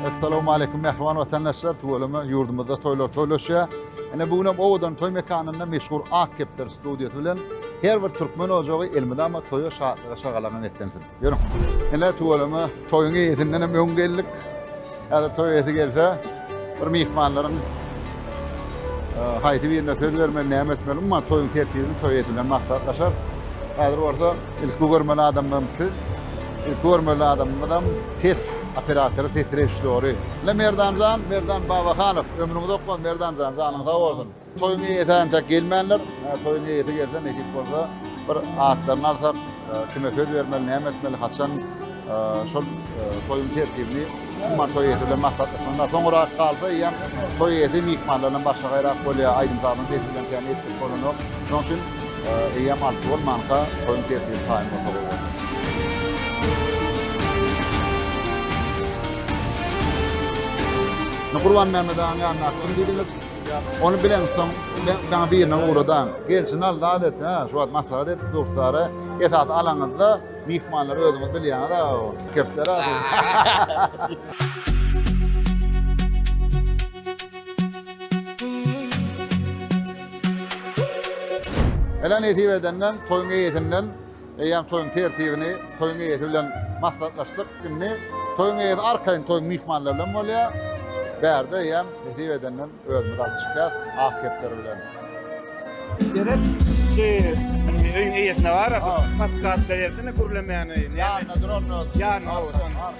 Assalamualeýkum mähriban watandaşlar. Tüweleme ýurdumyzda toýlar toýlaşýar. Ene bu günem owadan toý mekanynda meşhur Ak kepder studiýasy bilen her bir türkmen ojagy elmydama toýa şatlyga şagalaňa netlensin. Ýörüň. Ene tüweleme toýuň eýesinden hem öň geldik. Häzir toý eýesi gelse, Bir myhmanlaryň haýsy birine söz bermeli, näme etmeli, umuman toýuň tertibini toý eýesi bilen maslahatlaşar. Häzir bolsa ilki görmeli adamym siz. Ilki görmeli adamymyzam ses operatory, ses režissýory. Merdanjan, Merdan Babahanow. Ömrüňiz ok bolsun Merdanjan, janyň sag bolsun. Toýuň eýesi entek gelmändir. Toýuň eýesi gelse nesip bolsa bir atlaryny alsak, kime söz bermeli, näme etmeli, haçan şol toýuň tertibini umuman toý eýesi bilen maslahatlaşmaly. Soňurak galsa eýýäm toý eýesi myhmanlar bilen başga gaýrak bolýar, aýdym-sazyň sesi bilen kän etdik bolanok. Şonuň üçin eýýäm alty bolmanka toýuň tertibi taýyn bolsa gowy bolar. Gurbanmämmet agaň ýanyna kim diýdiňiz? Ony bileňsoň, men saňa birine ugradan. Gelşini al, zat et, hä? Şu wagt maslahat edip durkara, esasy alaňyzda, myhmanlary özüňiz bilýäňiz-ow. Kepdere. Ele nesip edenden, toýuň eýesinden. Eýýäm toýuň tertibini toýuň eýesi bilen maslahatlaşdyk. Indi toýuň eýesi arkaýyn toýuň myhmanlary bilen bolýar. Bärde eýýäm nesip edenden özümiz alyp çykýas ak kepderi bilen. Gerek şu öýüň eýesine barasy. Paskatla bersene gürlemäni. Ýanyna duralmaz. Ýanyna.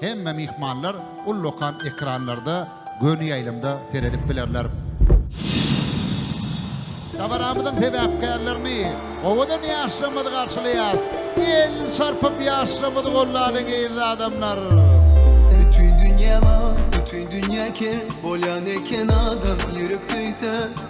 Hemme myhmanlar ullakan ekranlarda göni ýaýlymda seredip bilerler. Dabaramyzyň sebäpkärlerini owadan ýaşlarymyzy garşylaýar. Elini çarpyp ýaşlarymyzy gollalyň gyzly adamlar. Bütin dünýä bar, bütin dünýä ker, bolýan eken adam ýürek söýse.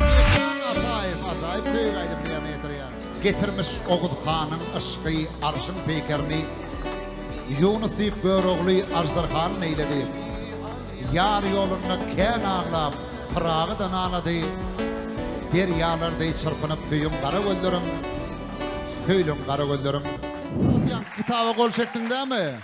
Mekan Ataýew ajaýyp beýik aýdymyny ýerine ýetirýär. Getirmiş Oguz hanyň yşky arşyň peýkerini Ýunus diýip Görogly aždarhany neýledi Ýar ýolunda kän aglap Pyragy da nalady Derýalar deý çyrpynyp söýüň gara gözlerim Söýlüň gara gözlerim. Atýan kitaba gol çekdiň dämi?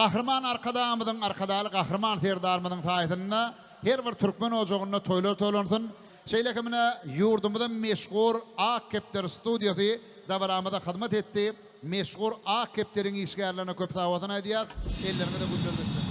Gahryman Arkadagymyzyň, Arkadagly Gahryman Serdarymyzyň saýasynda her bir türkmen ojagynda toýlar toýlansyn. Şeýle hem ine ýurdumyzyň meşhur Ak kepder studiýasy dabaramyza hyzmat etdi. Meşhur Ak kepderiň işgärlerine köp sagbosyn aýdýas, elleriňize güller düşsün.